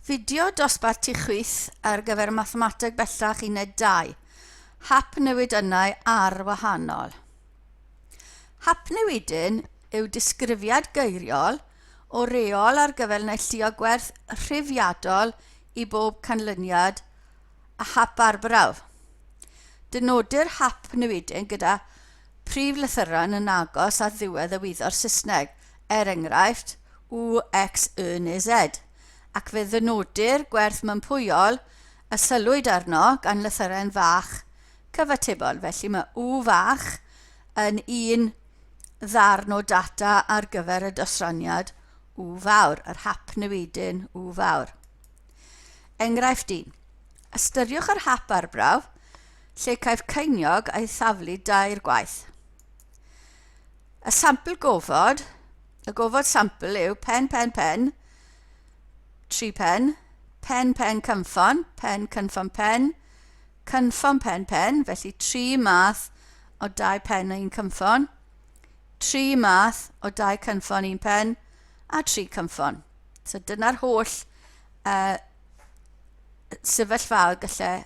Fideo dosbarth tu chwith ar gyfer Mathemateg Bellach Uned 2, Hap newid ynnau ar wahanol. Hap newidyn yw disgrifiad geiriol o reol ar gyfer neilltuo gwerth rhifiadol i bob canlyniad a hap arbrawf. Dynodir hap newidyn gyda prif lythyren yn agos at ddiwedd y wyddor Saesneg, er enghraifft, u, x, y neu z, ac fe ddynodir gwerth mympwyol y sylwyd arno gan lythyren fach cyfatebol, felly mae u fach yn un ddarn o data ar gyfer y dosraniad u fawr, yr hap newidyn u fawr. Enghraifft 1. Ystyriwch yr hap arbrawf lle caiff ceiniog ei thaflu dair gwaith. Y sampl gofod, y gofod sampl yw pen, pen, pen, tri pen, pen, pen, cynffon, pen, cynffon, pen, cynffon, pen, pen, felly tri math o dau pen a un cynffon, tri math o dau cynffon un pen, a tri cynffon. So dyna'r holl uh, sefyllfaoedd gallai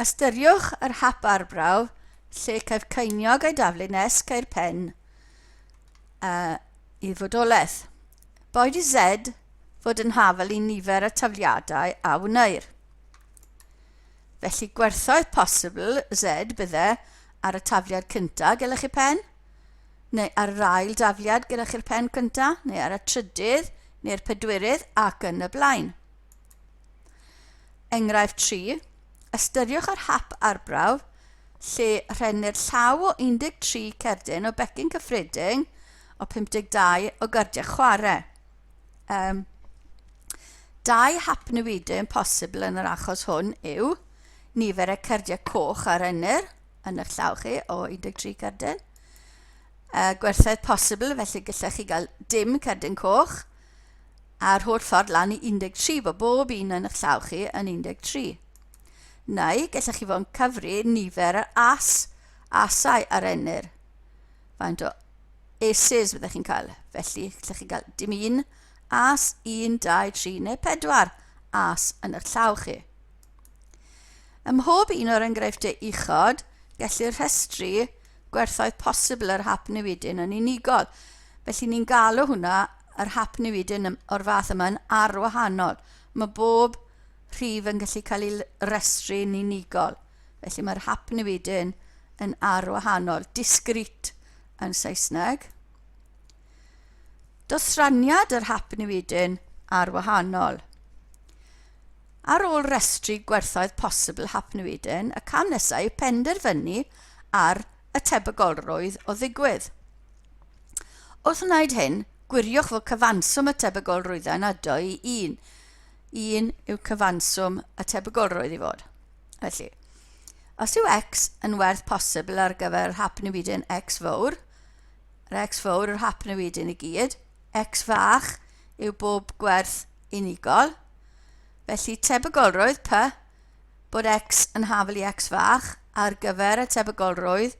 Ystyriwch yr hap arbrawf lle caiff ceiniog ei daflu nes ceir pen uh, i fodolaeth. Boed i Z fod yn hafel i nifer y tafliadau a wneir. Felly gwerthoedd posibl Z bydde ar y tafliad cyntaf gyda chi pen, neu ar yr ail dafliad gyda chi'r pen cyntaf, neu ar y trydydd, neu'r pedwerydd ac yn y blaen. Enghraifft 3, Ystyriwch yr hap arbrawf lle rhennir llaw o 13 cerdyn o becyn cyffredin o 52 o gardiau chwarae. Um, dau hap newidyn posibl yn yr achos hwn yw nifer y cardiau coch a rennir yn eich llaw chi o 13 cerdyn. Uh, gwerthoedd posibl, felly gallech chi gael dim cerdyn coch, a'r holl ffordd lan i 13 fo bob un yn eich llaw chi yn 13. Neu gellech chi fo'n cyfri nifer yr as, asau ar enir. Faint o aces fyddech chi'n cael. Felly, gellech chi gael dim un as, 1, 2, 3 neu 4 as yn eich llaw chi. Ym mhob un o'r enghreifftiau uchod, gellir rhestru gwerthoedd posibl yr hap newidyn yn unigol. Felly ni'n galw hwnna yr hap newidyn o'r fath yma yn arwahanol. Mae bob rhif yn gallu cael ei restru'n unigol. Felly mae'r hap newidyn yn arwahanol, discrete yn Saesneg. Dosraniad yr hap newidyn ar wahanol. Ar ôl restru gwerthoedd posibl hap newidyn, y cam nesaf yw penderfynu ar y tebygolrwydd o ddigwydd. Wrth wneud hyn, gwiriwch fod cyfanswm y tebygolrwyddau yn ado i un. Un yw cyfanswm y tebygolrwydd i fod. Felly, os yw x yn werth posibl ar gyfer yr hap newidyn x fawr, yr X fawr, yr hap newid yn y gyd, X fach yw bob gwerth unigol, felly tebygolrwydd P bod X yn hafel i X fach ar gyfer y tebygolrwydd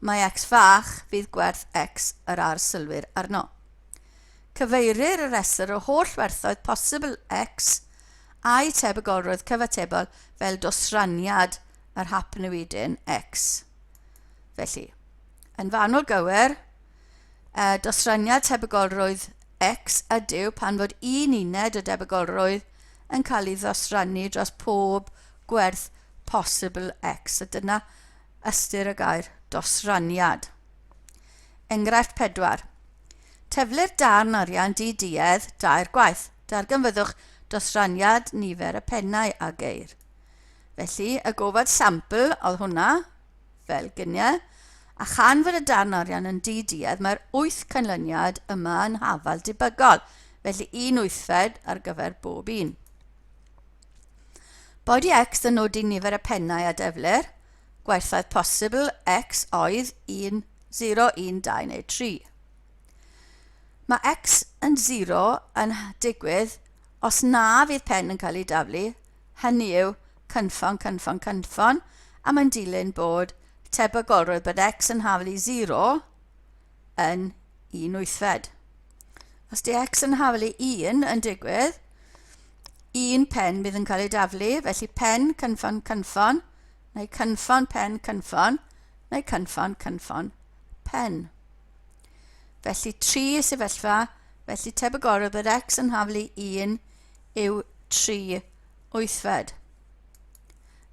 mae X fach fydd gwerth X yr arsylwyr arno. Cyfeirir y rhestr o holl werthoedd posibl X a'i tebygolrwydd cyfatebol fel dosraniad yr hap newidyn X. Felly, Yn fanwl gywir, y dosraniad tebygolrwydd X ydyw pan fod un uned o debygolrwydd yn cael ei ddosrannu dros pob gwerth posibl X, a dyna ystyr y gair dosraniad. Enghraifft 4. Teflir darn arian di duedd dair gwaith. Darganfyddwch dosraniad nifer y pennau a geir. Felly, y gofod sampl oedd hwnna, fel gynie, a chan fod y darn arian yn di-duedd, mae'r wyth canlyniad yma yn hafal debygol, felly un wythfed ar gyfer bob un. Body X yn nodi nifer y pennau a deflir, gwerthoedd posibl X oedd 1, 0, 1, 2 neu 3. Mae X yn 0 yn digwydd os na fydd pen yn cael ei daflu, hynny yw, cynffon, cynffon, cynffon, a mae'n dilyn bod tebygolrwydd bod x yn hafel i 0 yn un wythfed. Os di x yn hafel i 1 yn digwydd, un pen bydd yn cael ei daflu, felly pen, cynffon, cynffon, neu cynffon, pen, cynffon, neu cynffon, cynffon, pen. Felly tri y sefyllfa, felly tebygolrwydd bod x yn hafel i 1 yw tri wythfed.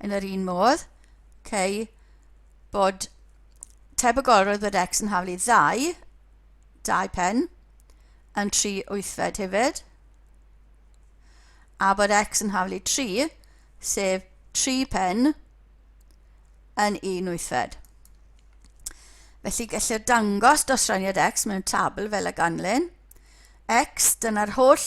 Yn yr un modd, cei bod tebygolrwydd bod x yn haflu ddau, dau pen, yn tri wythfed hefyd, a bod x yn haflu tri, sef tri pen, yn un wythfed. Felly gellir dangos dosraniad x mewn tabl fel y ganlyn. x, dyna'r holl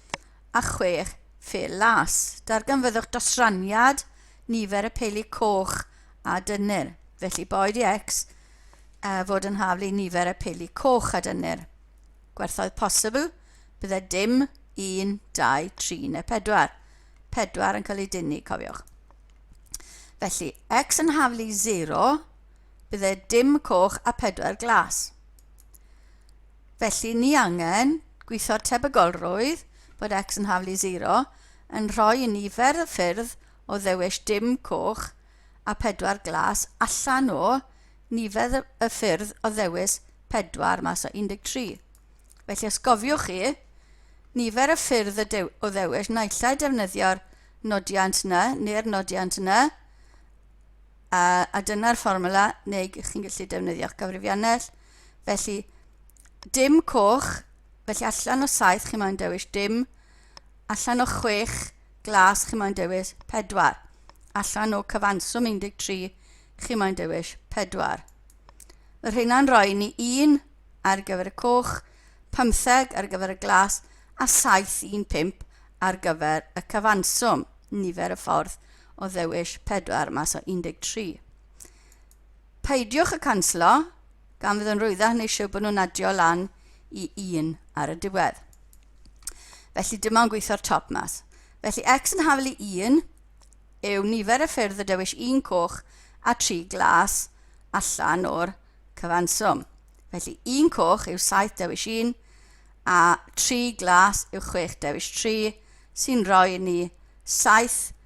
a chwech Phil Las. Darganfyddwch dosraniad nifer y peili coch a dynnir. Felly boed i X uh, fod yn haflu i nifer y peili coch a dynnir. Gwerthoedd posibl, bydde dim 1, 2, 3 neu 4. 4 yn cael ei dynnu, cofiwch. Felly, X yn haflu 0, bydde dim coch a 4 glas. Felly, ni angen gwitho'r tebygolrwydd bod x yn haflu 0 yn rhoi i ni fer y ffyrdd o ddewis dim coch a phedwar glas allan o nifer y ffyrdd o ddewis pedwar mas o 13. Felly, os cofiwch chi, nifer y ffyrdd y dew o ddewis naill ai defnyddio'r nodiant na neu'r nodiant na, a, a dyna'r fformwla, neu chi'n gallu defnyddio'ch cyfrifiannell, Felly, dim coch, felly allan o saith chi moyn dewis dim, allan o chwech glas chi moyn dewis pedwar, allan o cyfanswm 13 chi moyn dewis pedwar. Mae rheina'n rhoi ni un ar gyfer y coch, pymtheg ar gyfer y glas a saith un pump ar gyfer y cyfanswm, nifer y ffordd o ddewis pedwar mas o 13. Peidiwch a canslo, gan fydd yn rwyddach neu siw bod nhw'n adio lan i un ar y diwedd. Felly dyma yn gweithio'r top mas. Felly x yn hafel i 1 yw nifer y ffyrdd y dewis un coch a tri glas allan o'r cyfanswm. Felly un coch yw 7 dewis 1 a tri glas yw 6 dewis 3 sy'n rhoi ni 7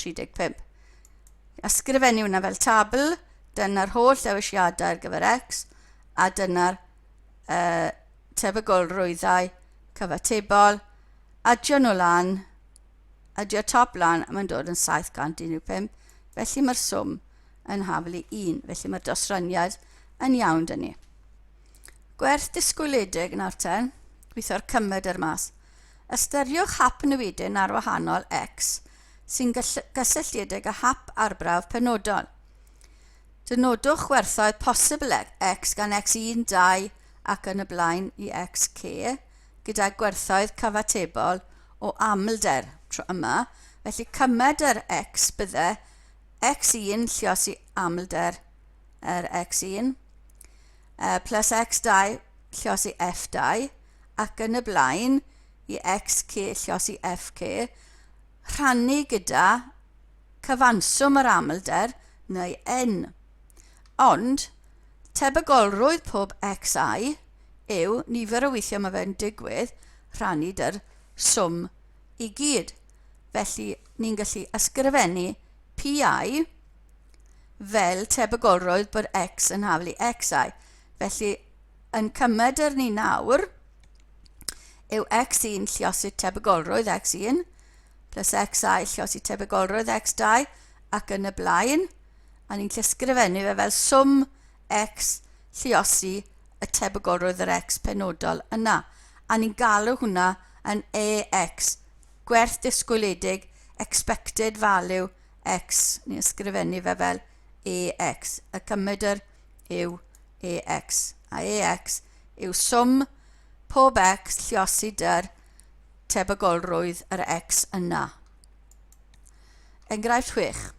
35. Ysgrifennu hwnna fel tabl, dyna'r holl ddewisiadau ar gyfer X, a dyna'r uh, tebygolrwyddau cyfatebol, adio nhw lan, adio top lan, a mae'n dod yn 715, felly mae'r swm yn haflu 1, felly mae'r dosraniad yn iawn dyn ni. Gwerth disgwyliedig nawr ten, gweithio'r cymed ar mas. Ystyriwch hap newidyn ar wahanol X sy'n gysylltiedig â hap arbrawf penodol. Dynodwch gwerthoedd posibl X gan X1, 2 ac yn y blaen i Xk gyda gwerthoedd cyfatebol o amlder tro yma, felly cymed yr X bydde X1 llios i amlder yr X1 plus X2 llios i F2 ac yn y blaen i XK llos i FK, rhannu gyda cyfanswm yr amlder neu N. Ond, tebygolrwydd pob XI yw nifer o weithiau mae fe'n digwydd rhannu dy'r swm i gyd. Felly, ni'n gallu ysgrifennu PI fel tebygolrwydd bod X yn haflu XI. Felly, yn cymedr ni nawr yw x1 lliosydd tebygolrwydd x1 plus xi lliosydd tebygolrwydd x2 ac yn y blaen, a ni'n llysgrifennu fe fel swm x lliosi y tebygolrwydd yr x penodol yna, a ni'n galw hwnna yn AX, gwerth disgwyliedig, expected value x, ni'n ysgrifennu fe fel AX, y cymedr yw EX, a EX yw swm pob X lliosi dy'r tebygolrwydd yr X yna. Enghraifft 6.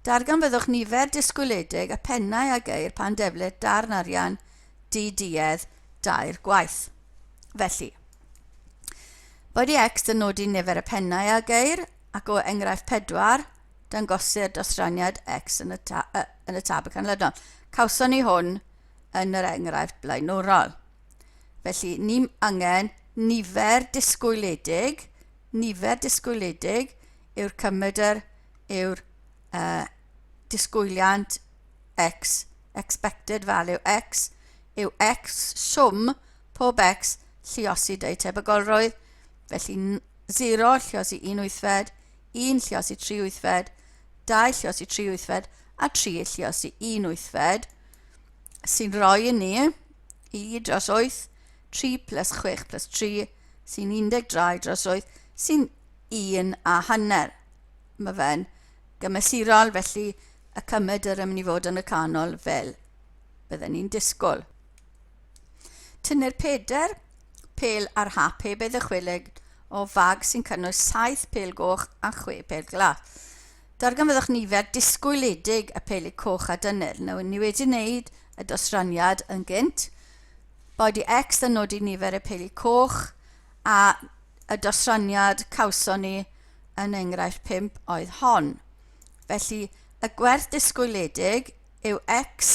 Darganfyddwch nifer disgwyliedig y pennau a geir pan deflir darn arian di-duedd dair gwaith. Felly, Roedd i X yn nodi nifer y pennau a geir ac o enghraifft 4, dangosir dosraniad X yn y, ta, uh, yn y tabl canlynol. Cawson ni hwn yn yr enghraifft blaenwrol. Felly, ni angen nifer disgwyliedig, nifer disgwyliedig yw'r cymedr yw'r uh, disgwyliant x, expected value x, yw x swm pob x lliosi deu tebygolrwydd, felly 0 lliosi 1 wythfed, un lluos i tri wythfed, dau lluos i tri wythfed a tri lluos i un wythfed, sy'n rhoi i ni i dros 8, 3 plus 6 plus 3, sy'n 13 dros 8, sy'n un a hanner. Mae fe'n gymesurol, felly y cymed yr ymwneud fod yn y canol fel bydden ni'n disgwyl. Tynnir pedair pel ar hap heb ei ddychwelyd o fag sy'n cynnwys saith pel goch a chwe pel glas. Darganfyddwch nifer disgwyliedig y peli coch a dynnir. Nawr, ni wedi wneud y dosraniad yn gynt. Body X yn nodi nifer y peli coch a y dosraniad cawson ni yn enghraifft 5 oedd hon. Felly, y gwerth disgwyliedig yw x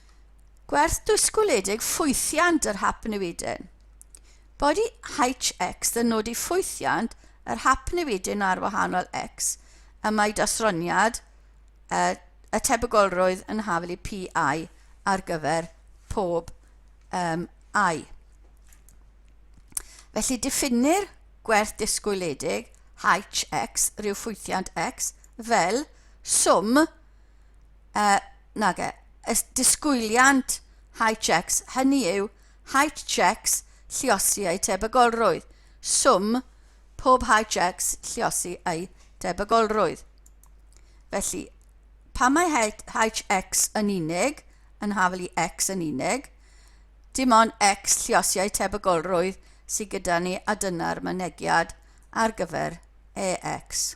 Gwerth dwysgwledig ffwythiant yr hap newidyn. Body HX yn nodi ffwythiant yr hap newidyn ar wahanol X y mae dosroniad y, y tebygolrwydd yn hafel i PI ar gyfer pob um, I. Felly diffinir gwerth disgwyledig HX, rhyw ffwythiant X, fel swm eh, nage, y disgwyliant high checks, hynny yw high checks lliosi eu tebygolrwydd, swm pob high checks lliosi eu tebygolrwydd. Felly, pan mae HX yn unig, yn hafel i X yn unig, dim ond X lliosiau tebygolrwydd sydd gyda ni a dyna'r mynegiad ar gyfer EX.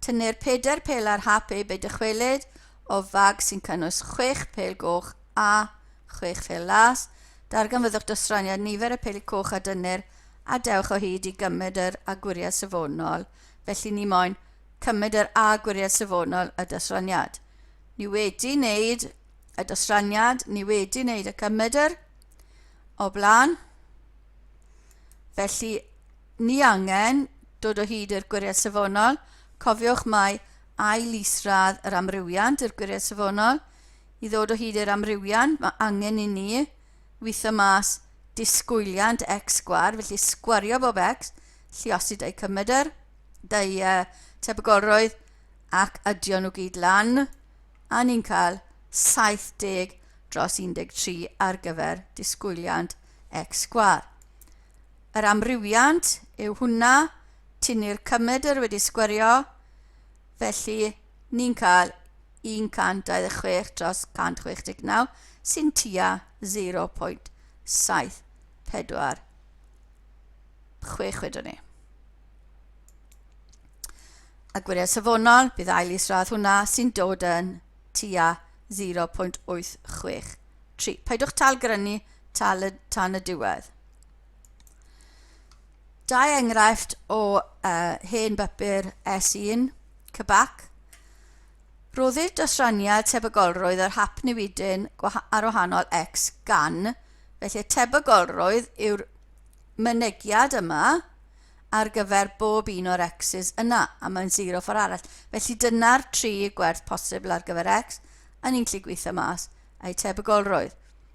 Tynnir pedair pêl ar hap eu be dychwelyd o fag sy'n cynnwys chwech pêl goch a chwech phêl las. Darganfyddwch dosraniad nifer y pêl coch a dynnir a dewch o hyd i gymryd yr a gwiriad safonol, felly ni moen cymryd yr a gwiriad safonol y dosraniad. Ni wedi wneud y dosraniad, ni wedi wneud y cymryd yr o blaen, felly Ni angen dod o hyd i'r gwiriad safonol, cofiwch mai ail isradd yr amrywiant yw'r gwiriad safonol. I ddod o hyd i'r amrywiant mae angen i ni witho mas disgwyliant x sgwar, felly sgwario bob x, lliosi dau cymedr, dau uh, tebygolrwydd ac adio nhw gyd lan, a ni'n cael 70 dros 13 ar gyfer disgwyliant x sgwar. yr amrywiant yw hwnna, tynnu'r cymedr wedi sgwerio, felly ni'n cael 126 dros 169 sy'n tua 0.746 wedwn ni. A gwiriau safonol, bydd ail isradd hwnna sy'n dod yn tua 0.863. Paidwch tal grynu tal y, tan y diwedd. Dau enghraifft o uh, hen bapur S1, Cybac. Rhoddir dosraniad tebygolrwydd yr hap newidyn ar wahanol X gan, felly tebygolrwydd yw'r mynegiad yma ar gyfer bob un o'r X's yna, a mae'n 0 ffordd arall. Felly dyna'r tri gwerth posibl ar gyfer X, a ni'n lli gweithio mas eu tebygolrwydd.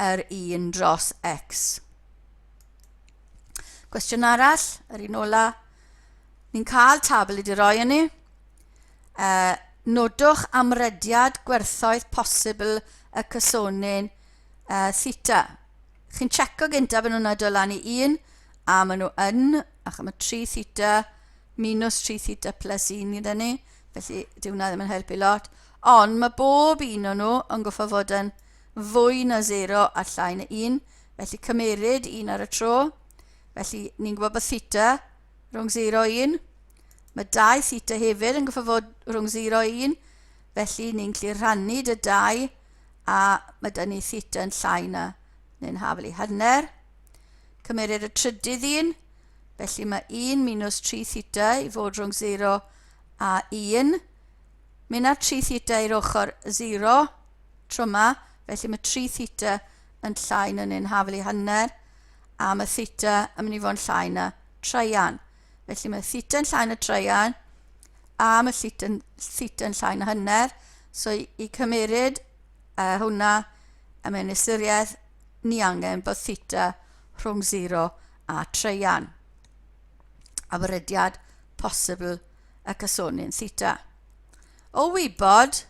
yr un dros x. Cwestiwn arall, yr un ola. Ni'n cael tabl i di roi yn ni. Uh, nodwch amrediad gwerthoedd posibl y cysonyn uh, theta. Chi'n checo gyntaf yn hwnna dod lan i 1 a maen nhw yn, ac mae 3 theta minus 3 theta plus 1 gyda ni, felly dyw hwnna ddim yn helpu lot. Ond mae bob un o'n nhw yn goffa fod yn fwy na sero a llai na un, felly cymeryd un ar y tro. Felly, ni'n gwybod bod theta rhwng sero a un. Mae dau theta hefyd yn goffa fod rhwng sero a un, felly ni'n gallu rhannu dy dau a mae dyn ni theta yn llai na neu'n hafel i hanner. Cymeryd y trydydd un, felly mae 1 minus 3 theta i fod rhwng 0 a 1. Mynd â 3 theta i'r ochr 0, tro yma, felly mae tri theta yn llai na neu'n hafel i hanner, a mae theta yn mynd i fod yn llai na traian. Felly mae theta yn llai na traian, a mae theta yn, theta yn llai na hanner, so i, i cymeryd uh, hwnna a mewn ystyriaeth, ni angen bod theta rhwng 0 a traian. A fyrydiad posibl y casoni'n theta. O wybod,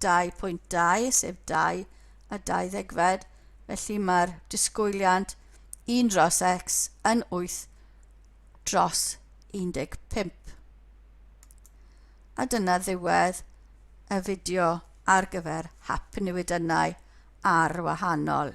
2.2, sef dau a dau ddegfed, felly mae'r disgwyliant 1 dros x yn 8 dros 15. A dyna ddiwedd y fideo ar gyfer hap newidynnau ar wahanol.